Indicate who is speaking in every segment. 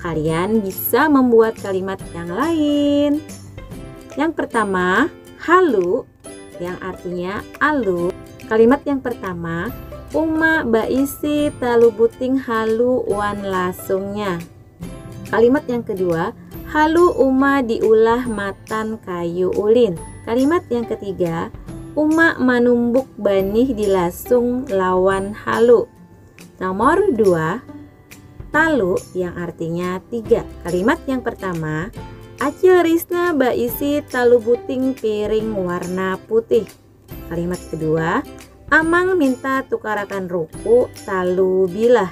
Speaker 1: Kalian bisa membuat kalimat yang lain. Yang pertama, halu yang artinya alu. Kalimat yang pertama, Uma baisi talu buting halu wan lasungnya. Kalimat yang kedua, halu uma diulah matan kayu ulin. Kalimat yang ketiga, uma manumbuk banih di lasung lawan halu. Nomor dua, talu yang artinya tiga. Kalimat yang pertama, Acil Risna baisi talu buting piring warna putih. Kalimat kedua, Amang minta tukarakan ruku talu bilah.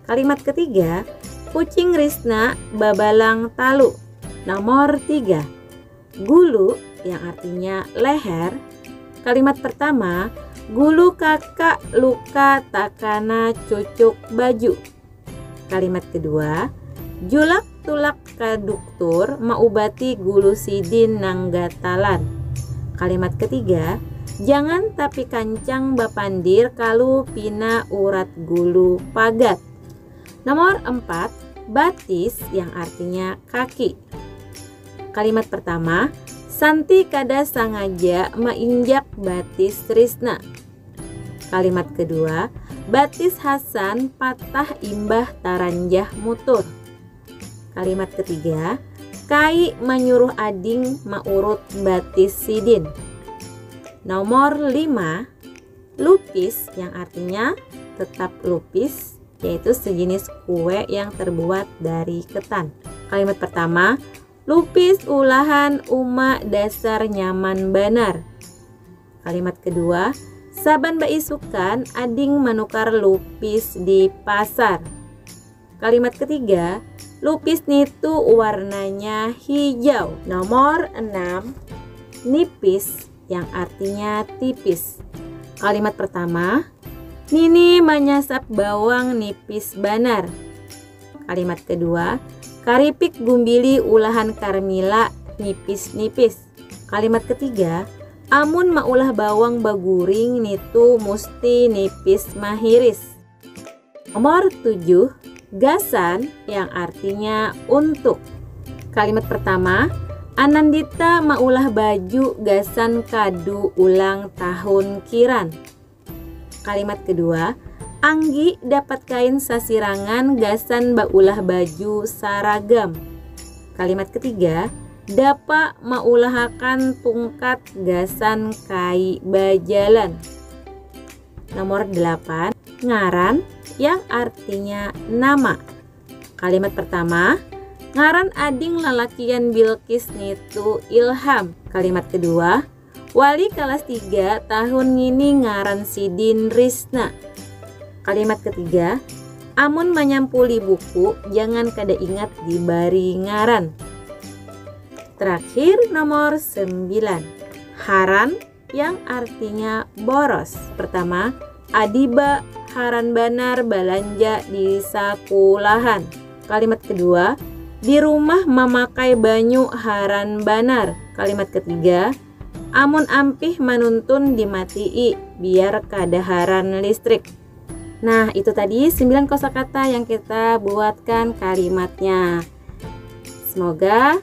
Speaker 1: Kalimat ketiga, Kucing Risna babalang talu. Nomor tiga, Gulu yang artinya leher. Kalimat pertama, gulu kakak luka takana cucuk baju. Kalimat kedua, julak tulak ka duktur maubati gulu sidin nang gatalan. Kalimat ketiga, jangan tapi kancang bapandir kalu pina urat gulu pagat. Nomor empat, batis yang artinya kaki. Kalimat pertama, Santi kada sangaja mainjak batis Trisna. Kalimat kedua, batis Hasan patah imbah taranjah mutur. Kalimat ketiga, Kai manyuruh ading maurut batis sidin. Nomor lima, lupis yang artinya tetap lupis yaitu sejenis kue yang terbuat dari ketan. Kalimat pertama, lupis ulahan uma dasar nyaman banar. Kalimat kedua, saban baisukan ading manukar lupis di pasar. Kalimat ketiga, lupis nitu warnanya hijau. Nomor 6, nipis yang artinya tipis. Kalimat pertama, Nini manyasap bawang nipis banar. Kalimat kedua, karipik gumbili ulahan Karmila nipis-nipis. Kalimat ketiga, amun maulah bawang baguring nitu musti nipis mahiris. Nomor tujuh, gasan yang artinya untuk. Kalimat pertama, Anandita maulah baju gasan kadu ulang tahun Kiran. Kalimat kedua, Anggi dapat kain sasirangan gasan baulah baju saragam. Kalimat ketiga, Dapa maulahakan tungkat gasan kai bajalan. Nomor 8, ngaran yang artinya nama. Kalimat pertama, ngaran ading lalakian Bilqis nitu Ilham. Kalimat kedua, wali kelas 3 tahun ngini ngaran sidin Risna. Kalimat ketiga, amun manyampuli buku jangan kada ingat dibari ngaran. Terakhir nomor 9. Haran Yang artinya boros. Pertama, adiba haran banar balanja di sakulahan. Kalimat kedua, di rumah mamakai banyu haran banar. Kalimat ketiga, amun ampih manuntun dimatii biar kada haran listrik. Nah, itu tadi 9 kosakata yang kita buatkan kalimatnya. Semoga